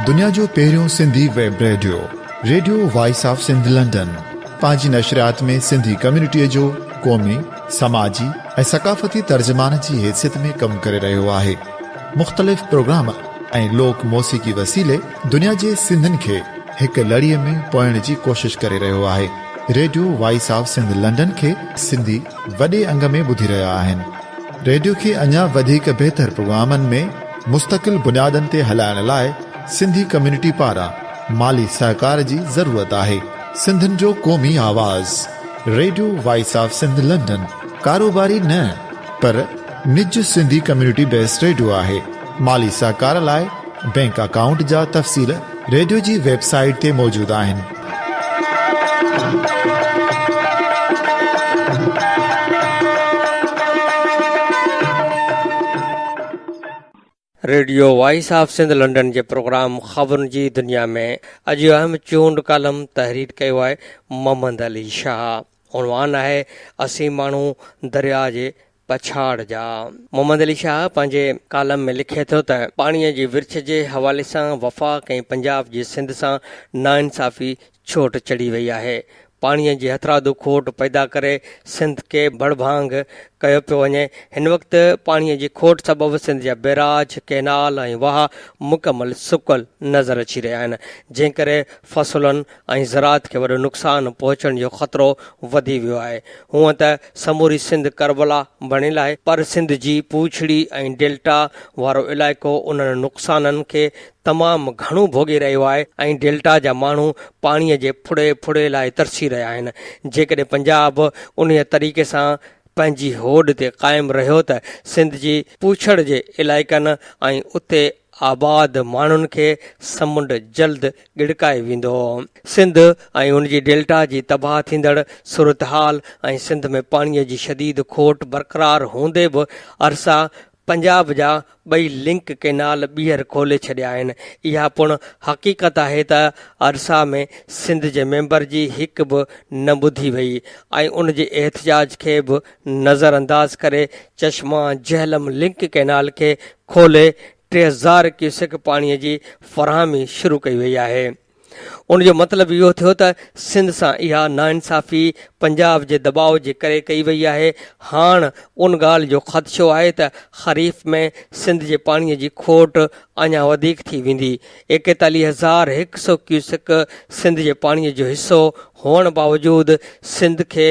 دنيا جو پهريون Sindhi web radio radio voice of Sindh London پنهنجي نشريات ۾ سنڌي ڪميونٽي جو قومي سماجي ۽ ثقافتي ترجمان جي حيثيت ۾ ڪم ڪري رهيو آهي مختلف پروگرام ۽ لوڪ موسيقي وسيلي دنيا جي سنڌين کي هڪ لڙي ۾ پوئڻ جي ڪوشش ڪري رهيو آهي radio voice of Sindh London کي سنڌي وڏي انگ ۾ ٻڌي رهيا آهن ريڊيو کي اڃا وڌيڪ بهتر پروگرامن ۾ مستقل بنيادن تي هلائڻ لاء سنڌي ڪميونٽي پاران مالي سهڪار جي ضرورت آهي سنڌين جو قومي آواز radio voice of Sindh London ڪاروباري نه پر نج سنڌي ڪميونٽي بيس ريڊيو آهي مالي سهڪار لاء بينڪ اڪائونٽ جا تفصيل ريڊيو جي ويب سائيٽ تي موجود آهن radio voice of Sindh London جي پروگرام خبرن جي دنيا ۾ اڄ جو اهم چونڊ ڪالم تحرير ڪيو آهي محمد علي شاهه عنوان آهي اسين ماڻهو درياء جي پڇاڙ جا. محمد علي شاهه پنهنجي ڪالم ۾ لکي ٿو ته پاڻيء جي ورڇ جي حوالي سان وفاق ۽ پنجاب جي سنڌ سان ناانصافي ڇوٽ چڙهي وئي آهي. پاڻيء جي هٿرادو کوٽ پيدا ڪري سنڌ کي ڀڙڀانگ ڪيو پيو وڃي. هن وقت پاڻيء جي کوٽ سبب سنڌ جا بيراج، ڪئنال ۽ واهه مڪمل سڪل نظر اچي رهيا آهن، جنهن ڪري فصلن ۽ زراعت کي وڏو نقصان پهچڻ جو خطرو وڌي ويو آهي. هونئن ته سموري سنڌ ڪربلا بڻيل آهي پر سنڌ جي پوڇڙي ۽ ڊيلٽا وارو علائقو انهن نقصانن کي تمام گهڻو ڀوڳي رهيو آهي ۽ ڊيلٽا جا ماڻهو پاڻي جي ڦڙي ڦڙي لاء ترسي رهيا آهن جيڪڏهن پنجاب انهي طريقي سان پنهنجي هوڏ تي قائم رهيو ته سنڌ جي پوڇڙ جي علائقن ۽ اتي آباد ماڻهن کي سمنڊ جلد ڳڙڪائي ويندو. سنڌ ۽ ان جي ڊيلٽا جي تباهه ٿيندڙ صورتحال ۽ سنڌ ۾ پاڻي جي شديد کوٽ برقرار هوندي به ارسا پنجاب جا ٻئي لنڪ ڪينال ٻيهر کولي ڇڏيا آهن. اها پڻ حقيقت آهي ته ارسا ۾ سنڌ جي ميمبر جي هڪ به نه ٻڌي وئي ۽ ان جي احتجاج کي به نظرانداز ڪري چشما جهلم لنڪ ڪينال کي کولي ٽي هزار ڪيوسڪ پاڻي جي فراهمي شروع ڪئي وئي آهي ان جو مطلب اهو ٿيو ته سنڌ سان اها ناانصافي پنجاب جي دٻاء جي ڪري ڪئي وئي آهي هاڻ ان ڳالهه جو خدشو آهي ته خريف ۾ سنڌ جي پاڻي جي کوٽ اڃا وڌيڪ ٿي ويندي ايڪيتاليهه هزار هڪ سو ڪيوسڪ سنڌ جي پاڻي جو حصو هئڻ باوجود سنڌ کي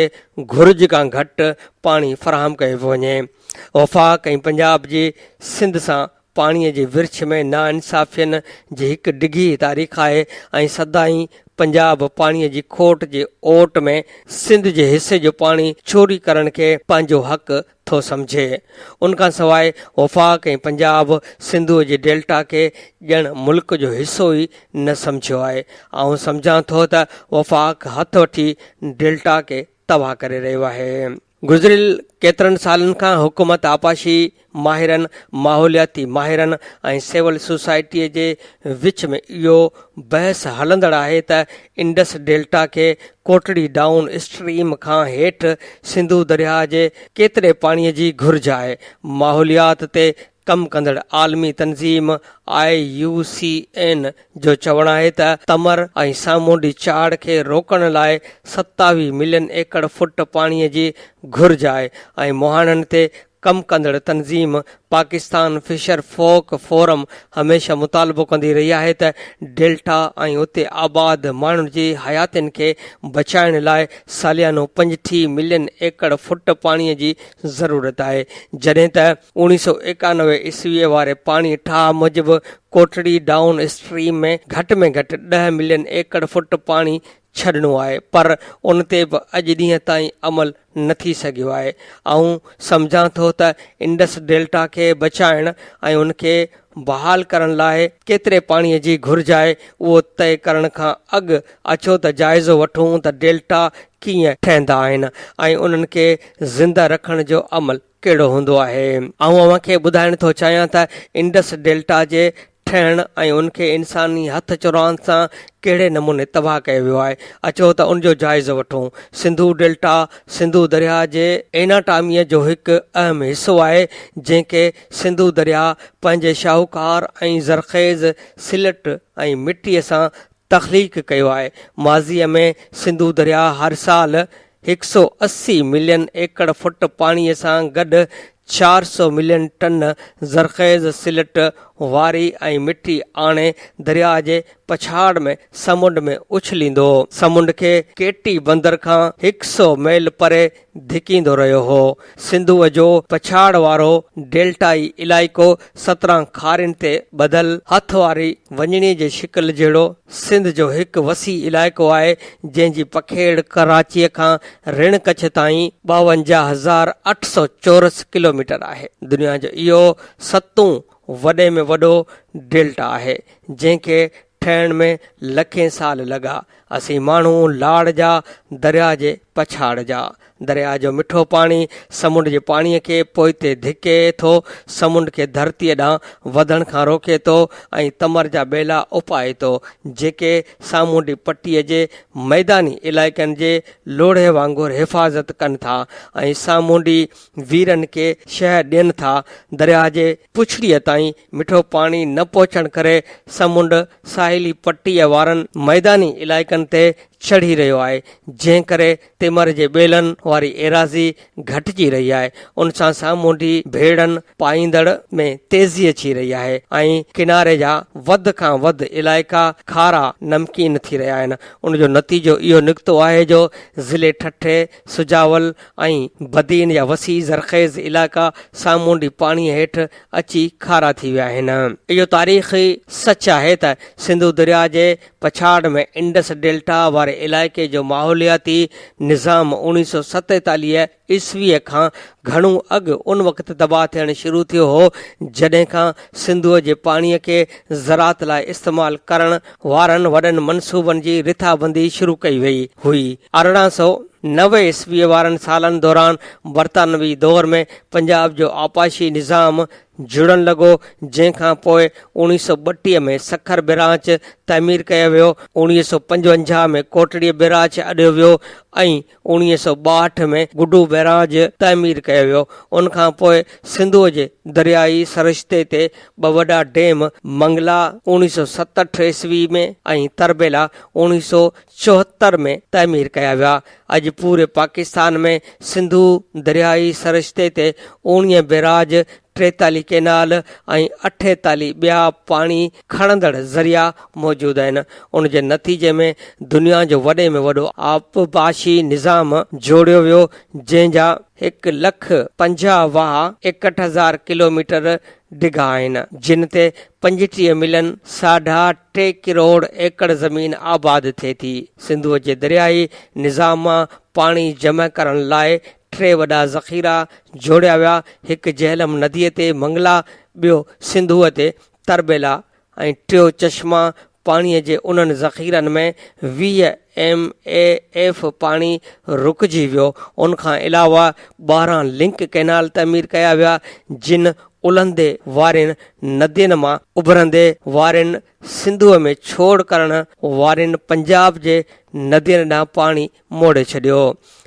گهرج کان گهٽ پاڻي فراهم ڪيو پيو وڃي وفاق ۽ پنجاب جي سنڌ سان پاڻي جي ورڇ ۾ ناانصافين جي هڪ ڊگهي تاريخ آهي ۽ سدائين پنجاب پاڻي جي کوٽ جي اوٽ ۾ سنڌ جي حصي جو پاڻي چوري ڪرڻ کي پنهنجو حق ٿو سمجهي. ان کان سواء وفاق ۽ پنجاب سنڌوء جي ڊيلٽا کي ڄڻ ملڪ جو حصو ئي نه سمجهيو آهي. آئون سمجهان ٿو ته وفاق هٿ وٺي ڊيلٽا کي تباهه ڪري رهيو آهي. گذريل ڪيترن سالن کان حڪومت آبپاشي ماهرن، ماحولياتي ماهرن ۽ سول سوسائٽيء جي وچ ۾ اهو بحث هلندڙ آهي ته انڊس ڊيلٽا کي ڪوٽڙي ڊائون اسٽريم کان هيٺ سنڌو درياهه جي ڪيتري پاڻيء جي گهرج آهي. ماحوليات تي ڪم ڪندڙ عالمي تنظيم آء يو سي اين جو چوڻ آهي ته تمر ۽ سامونڊي چاڙهه کي روڪڻ لاء ستاويهه ملين ايڪڙ فوٽ پاڻي جي گهرج آهي ۽ مهاڻن تي ڪم ڪندڙ تنظيم پاڪستان فشر فوڪ فورم هميشه مطالبو ڪندي رهي آهي ته ڊيلٽا ۽ اتي آباد ماڻهن جي حياتين کي بچائڻ لاء ساليانو پنجٽيهه ملين ايڪڙ فوٽ پاڻي جي ضرورت آهي جڏهن ته اوڻيھ سؤ ايڪانوي عيسويء واري پاڻي ٺاهه موجب ڪوٽڙي ڊائون اسٽريم ۾ گهٽ ۾ گهٽ ڏهه ملين ايڪڙ فٽ پاڻي ڇڏڻو آهي پر ان تي به اڄ ڏينهن تائين عمل نه ٿي سگهيو آهي آئون سمجهان ٿو ته انڊس ڊيلٽا کي بچائڻ ۽ ان کي بحال ڪرڻ لاء ڪيتري پاڻي جي گهرج آهي اهو طئي ڪرڻ کان اڳ اچو ته جائزو وٺون ته ڊيلٽا ڪيئن ٺهندا آهن ۽ انهن کي زنده رکڻ جو عمل ڪهڙو هوندو آهي؟ آئون اوهان کي ٻڌائڻ ٿو چاهيان ته انڊس ڊيلٽا جي ٺهڻ ۽ ان کي انساني هٿ چراند سان ڪهڙي نموني تباهه ڪيو ويو آهي. اچو ته ان جو جائزو وٺون. سنڌو ڊيلٽا سنڌو درياهه جي ايناٽاميء جو هڪ اهم حصو آهي، جنهن کي سنڌو درياهه پنهنجي شاهوڪار ۽ زرخيز سلٽ ۽ مٽيء سان تخليق ڪيو آهي. ماضيء ۾ سنڌو درياء هر سال هڪ سؤ اسي ملين ايڪڙ فٽ پاڻيء سان گڏ چار سؤ ملين ٽن زرخيز سلٽ، واري ۽ مٽي آڻي درياء جي پڇاڙ ۾ سمنڊ ۾ اڇليندو هو. سمنڊ کي ڪيٽي بندر کان هڪ سؤ ميل پري ڌڪيندو رهيو هو. سنڌوء جو پڇاڙ وارو ڊيلٽائي علائقو سترهن کارين تي ٻڌل هٿ واري وڃڻي جي شڪل جهڙو سنڌ جو هڪ وسيع علائقو آهي، جنهن جي پکيڙ ڪراچيء کان رڻ ڪڇ تائين ٻاونجاهه هزار اٺ سؤ چورس ڪلوميٽر آهي. دنيا جو اهو ستون وڏي ۾ وڏو ڊيلٽا آهي، جنهن کي ٺهڻ ۾ لکين سال لڳا. اسين ماڻهو لاڙ جا، درياء جي پڇاڙ جا. درياء جو مٺو پاڻي سمنڊ جي پاڻي کي پوئتي ڌڪي ٿو، سمنڊ کي ڌرتيء ڏانهن وڌڻ کان روڪي ٿو ۽ تمر جا ٻيلا اپائي ٿو، جيڪي سامونڊي پٽيء جي ميداني علائقن جي لوڙهي وانگر حفاظت ڪن ٿا ۽ سامونڊي ويرن کي شهه ڏين ٿا. درياء جي پڇڙيء تائين مٺو پاڻي نه پهچڻ ڪري سمنڊ ساحلي پٽيء وارن ميداني علائقن تي چڙهي رهيو آهي، جنهن ڪري تمر جي ٻيلن واري ايراضي گهٽجي رهي آهي، ان سان سامونڊي ڀيڙن پائيندڙ ۾ تيزي اچي رهي آهي ۽ ڪناري جا وڌ کان وڌ علائقا کارا نمڪين ٿي رهيا آهن، ان جو نتيجو اهو نڪتو آهي جو ضلعي ٺٽي، سجاول ۽ بدين جا وسيع زرخيز علائقا سامونڊي پاڻيء هيٺ اچي کارا ٿي ويا آهن. اهو تاريخي سچ آهي ته سنڌو درياهه جي پڇاڙ ۾ انڊس ڊيلٽا واري علائقي جو ماحولياتي نظام اوڻيهه سؤ ستيتاليهه عيسويء کان گهڻو اڳ ان وقت تباهه ٿيڻ شروع ٿيو هو جڏهن کان سنڌوء جي پاڻيء کي زراعت لاء استعمال ڪرڻ وارن وڏن منصوبن جي رٿابندي شروع ڪئي وئي هئي. ارڙهن سؤ نوي عيسويء وارن سالن دوران برطانوي دور ۾ پنجاب جو آبپاشي نظام جڙڻ لڳو، جنهن کان پوء اوڻيهه سؤ ٻٽيهه ۾ سکر بئراچ تعمير ڪيو ويو، اوڻيهه سؤ پنجونجاهه ۾ ڪوٽڙيء بئراچ اڏيو ويو ۽ اوڻيهه سؤ ٻاهٺ ۾ گڊو بئراج تعمير ڪيو ويو، ان کان پوء سنڌوء جي درياهي سرشتي تي ٻه وڏا ڊيم منگلا اوڻيهه سؤ ستهٺ عيسوي ۾ ۽ تربيلا اوڻيهه سؤ چوهتر ۾ تعمير ڪيا ويا. اڄ پوري پاڪستان ۾ سنڌو درياهي سرشتي تي اوڻيهه بئراج ٽيتالي ڪينال ۽ اٺيتالي ٻيا پاڻي کڻندڙ ذريعا موجود آهن، ان جي نتيجي ۾ دنيا جو وڏي ۾ وڏو آبپاشي نظام جوڙيو ويو، جنهن جا هڪ لک پنجاهه واهه ايڪٽ هزار ڪلوميٽر ڊگها آهن، جن تي پنجٽيهه ملين ساڍا ٽي ڪروڙ ايڪڙ زمين آباد ٿئي ٿي. سنڌوء جي درياهي نظام مان پاڻي جمع ڪرڻ لاء ٽي وڏا ذخيرا جوڙيا ويا، هڪ جهلم نديء تي منگلا، ٻيو سنڌوء تي تربيلا ۽ ٽيون چشما پاڻيء جي انهن ذخيرن ۾ ويهه ايم اي ايف پاڻي رڪجي ويو. ان کان علاوه ٻاهران لنڪ ڪئنال تعمير ڪيا ويا، جن الهندي وارين ندين مان اڀرندي وارين سنڌوء ۾ ڇوڙ ڪرڻ وارين پنجاب جي ندين ڏانهن پاڻي موڙي ڇڏيو.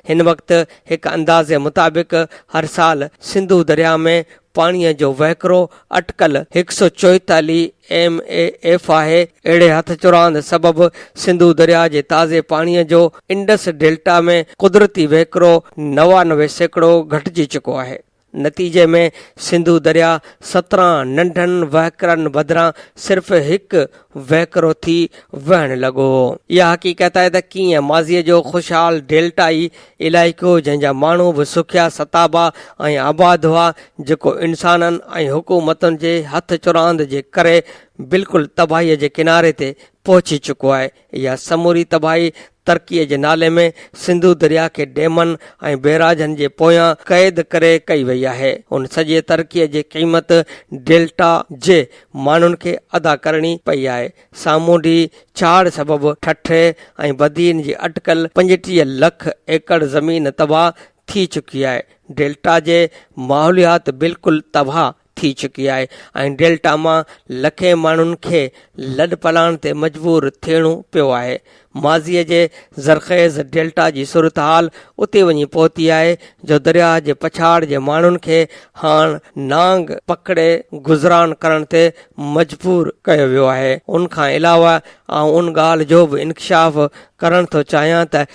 هن وقت هڪ اندازي مطابق هر سال سنڌو درياهه ۾ پاڻيء جو وهڪرو اٽڪل هڪ سؤ چوئيتاليهه ايم اي ايف آهي. اهڙي هٿ چراند سبب سنڌو درياهه جي تازي پاڻيء جو انڊس ڊيلٽا ۾ قدرتي وهڪرو نوانوي سيڪڙو گهٽجي چڪو آهي. نتيجي ۾ سنڌو درياء سترهن ننڍن وهڪرن بدران صرف هڪ وهڪرو ٿي وهڻ لڳو هو اها حقيقت آهي ته ڪيئن ماضي جو خوشحال ڊيلٽائي علائقو جنهن جا ماڻهو به سکيا ستابا ۽ آباد هئا جيڪو انسانن ۽ حڪومتن جي هٿ چراند جي ڪري بلڪل تباهي جي ڪناري تي پهچي چڪو آهي اها سموري تباهي ترقيء جي نالي ۾ سنڌو درياهه کي ڊيمن ۽ بيراجن جي پويان قيد ڪري ڪئي وئي آهي. ان سڄي ترقيء جي قيمت ڊيلٽا جي ماڻهن کي ادا ڪرڻي پئي آهي. سامونڊي ڇاڙهه سبب ٺٽي ۽ بدين جي اٽڪل پنجٽيهه لک ايڪڙ زمين تباهه ٿي چڪي آهي. ڊيلٽا جي ماحوليات بلڪل تباهه ٿي چڪي آهي ۽ ڊيلٽا مان لکين ماڻهن کي لڏپلاڻ تي مجبور ٿيڻو پيو آهي. ماضيء جي زرخيز ڊيلٽا جي صورتحال اتي وڃي پهتي آهي جو درياهه جي پڇاڙ جي ماڻهن کي هاڻ نانگ پکڙي گذران ڪرڻ تي مجبور ڪيو ويو آهي. ان کان علاوه آئون ان ڳالهه جو به انڪشاف ڪرڻ ٿو چاهيان ته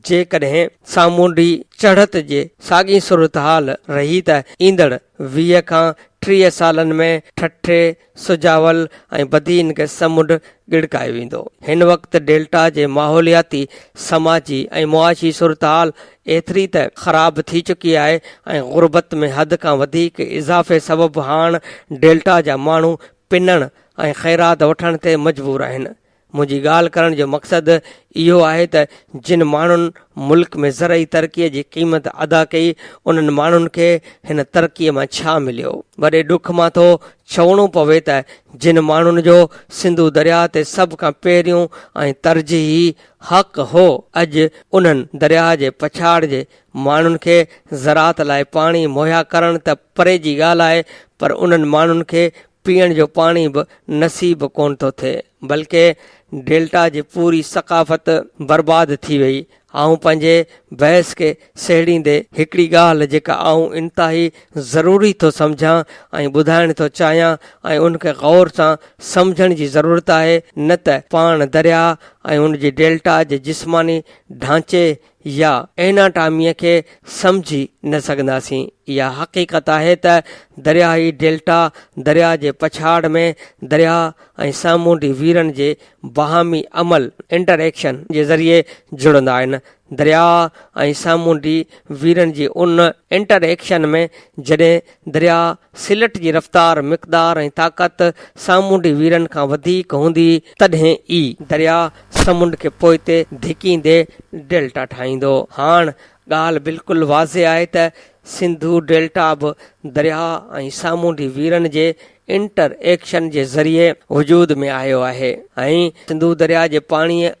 جيڪڏهن سامونڊي چڙهت جي ساڳي صورتحال رهي ته ايندڙ ويهه کان ٽيهه سالن ۾ ٺٽي، سجاول ۽ بدين کي سمنڊ ڳڙڪايو ويندو. هن وقت ڊيلٽا جي ماحولياتي، سماجي ۽ معاشي صورتحال ايتري ته خراب ٿي چڪي آهي ۽ غربت ۾ حد کان وڌيڪ اضافي سبب هاڻ ڊيلٽا جا ماڻهو پنڻ ۽ خيرات وٺڻ تي مجبور آهن. منهنجي ڳالهه ڪرڻ جو مقصد اهو آهي ته جن ماڻهن ملڪ ۾ زرعي ترقي جي قيمت ادا ڪئي انهن ماڻهن کي هن ترقي مان ڇا مليو؟ وڏي ڏک مان ٿو چوڻو پوي ته جن ماڻهن جو سنڌو درياء تي سڀ کان پهريون ۽ ترجيحي حق هو اڄ انهن درياء جي پڇاڙ جي ماڻهن کي زراعت لاء پاڻي مهيا ڪرڻ ته پري جي ڳالهه آهي پر انهن ماڻهن کي پيئڻ جو پاڻي به نصيب ڪونه ٿو ٿئي بلڪه ڊيلٽا جي پوري ثقافت برباد ٿي وئي آئون پنهنجي بحث کي سهيڙيندي هڪڙي ڳالهه جيڪا آئون انتهائي ضروري ٿو سمجهان ۽ ٻڌائڻ ٿو چاهيان ۽ ان کي غور سان سمجهڻ جي ضرورت آهي نه ته پاڻ درياهه ۽ ان جي ڊيلٽا جي جسماني ڍانچي يا ايناٽاميء کي سمجهي نه سگهنداسين. اها حقيقت آهي ته درياهي ڊيلٽا درياهه جي پڇاڙ ۾ درياهه ۽ سامونڊي ويرن جي باهمي عمل، انٽر ايڪشن، جي ذريعي جڙندا آهن. درياهه ۽ سامونڊي ويرن جي ان انٽر ايڪشن ۾ جڏهن درياهه سلٽ جي رفتار، مقدار ۽ طاقت سامونڊي ويرن کان وڌيڪ هوندي تڏهن ئي، درياهه سمنڊ کي پوئتي ڌڪيندي ڊيلٽا ٺاهيندو. هاڻ ڳالهه بلڪل واضح آهي ته سنڌو ڊيلٽا به درياهه ۽ سامونڊي ويرن جي انٽر ايڪشن جي ذريعي وجود ۾ آيو آهي ۽ سنڌو درياهه جي پاڻيء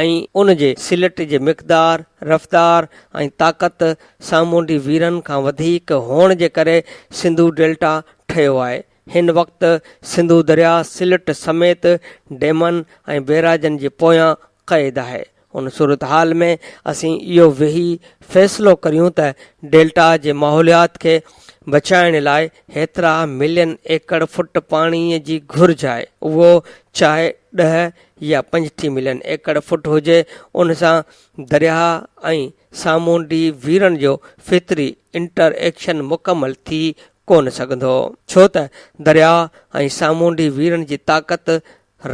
۽ ان جي سلٽ جي مقدار، رفتار ۽ طاقت سامونڊي ويرن کان وڌيڪ هئڻ جي ڪري سنڌو ڊيلٽا ٺهيو آهي. هن وقت سنڌو درياء سلٽ سميت ڊيمن ۽ بيراجن جي پويان قيد آهي. ان صورتحال ۾ اسين اهو ويهي فيصلو ڪريون ته ڊيلٽا جي ماحوليات کي بچائڻ لاء هيترا ملين ايڪڙ فٽ پاڻي جي گهرج آهي اهو چاهي ڏهه يا پنجٽيهه ملين ايڪڙ فٽ هجي ان سان درياء ۽ سامونڊي ويرن جو فطري انٽر ايڪشن مڪمل ٿي ڪونه سگهندو، ڇو ته درياء ۽ سامونڊي ويرن جي طاقت،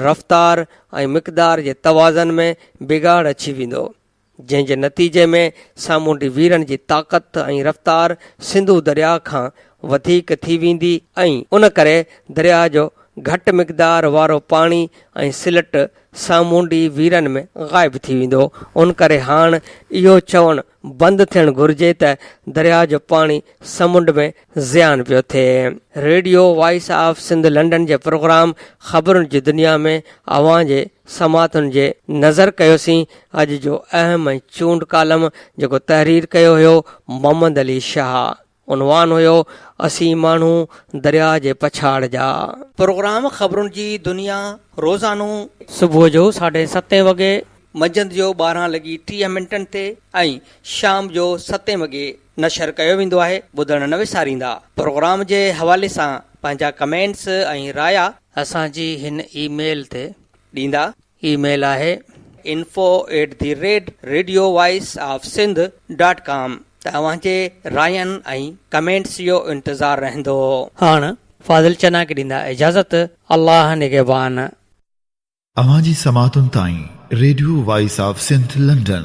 رفتار ۽ مقدار جي توازن ۾ بگاڙ اچي ويندو، جنهن جي نتيجي ۾ سامونڊي ويرن جي طاقت ۽ رفتار سنڌو درياء کان وڌيڪ ٿي ويندي ۽ ان ڪري درياء جو گهٽ مقدار وارو پاڻي ۽ سلٽ سامونڊي ويرن ۾ غائب ٿي ويندو، ان ڪري هاڻ اهو چوڻ بند ٿيڻ گهرجي ته درياء جو پاڻي سمنڊ ۾ زيان پيو ٿئي. Radio voice of Sindh London جي پروگرام خبرن جي دنيا ۾ اوهان جي سماعتن جي نظر ڪيوسين اڄ جو اهم ۽ چونڊ ڪالم جيڪو تحرير ڪيو هيو محمد علي شاهه. عنوان هيو، اسين ماڻهو درياء جي پڇاڙ جا. پروگرام خبرن جي دنيا روزانو. صبح جو ساڍي ستين وڳي. منجهند جو ٻارهن لڳي ٽيهه منٽن تي ۽ شام جو ستين وڳي نشر ڪيو ويندو آهي ٻڌڻ نه وساريندا پروگرام جي حوالي سان پنهنجا ڪمينٽس ۽ رايا اسان جي هن اي ميل تي. ڏيندا اي ميل آهي info at the rate radio voice of Sindh dot com ته اوهان جي راين ۽ ڪمينٽس جو انتظار رهندو. هاڻ فاضل چنا کي ڏيندا اجازت الله نگهبان. اوهان جي سماعتن تائين radio voice of Sindh London.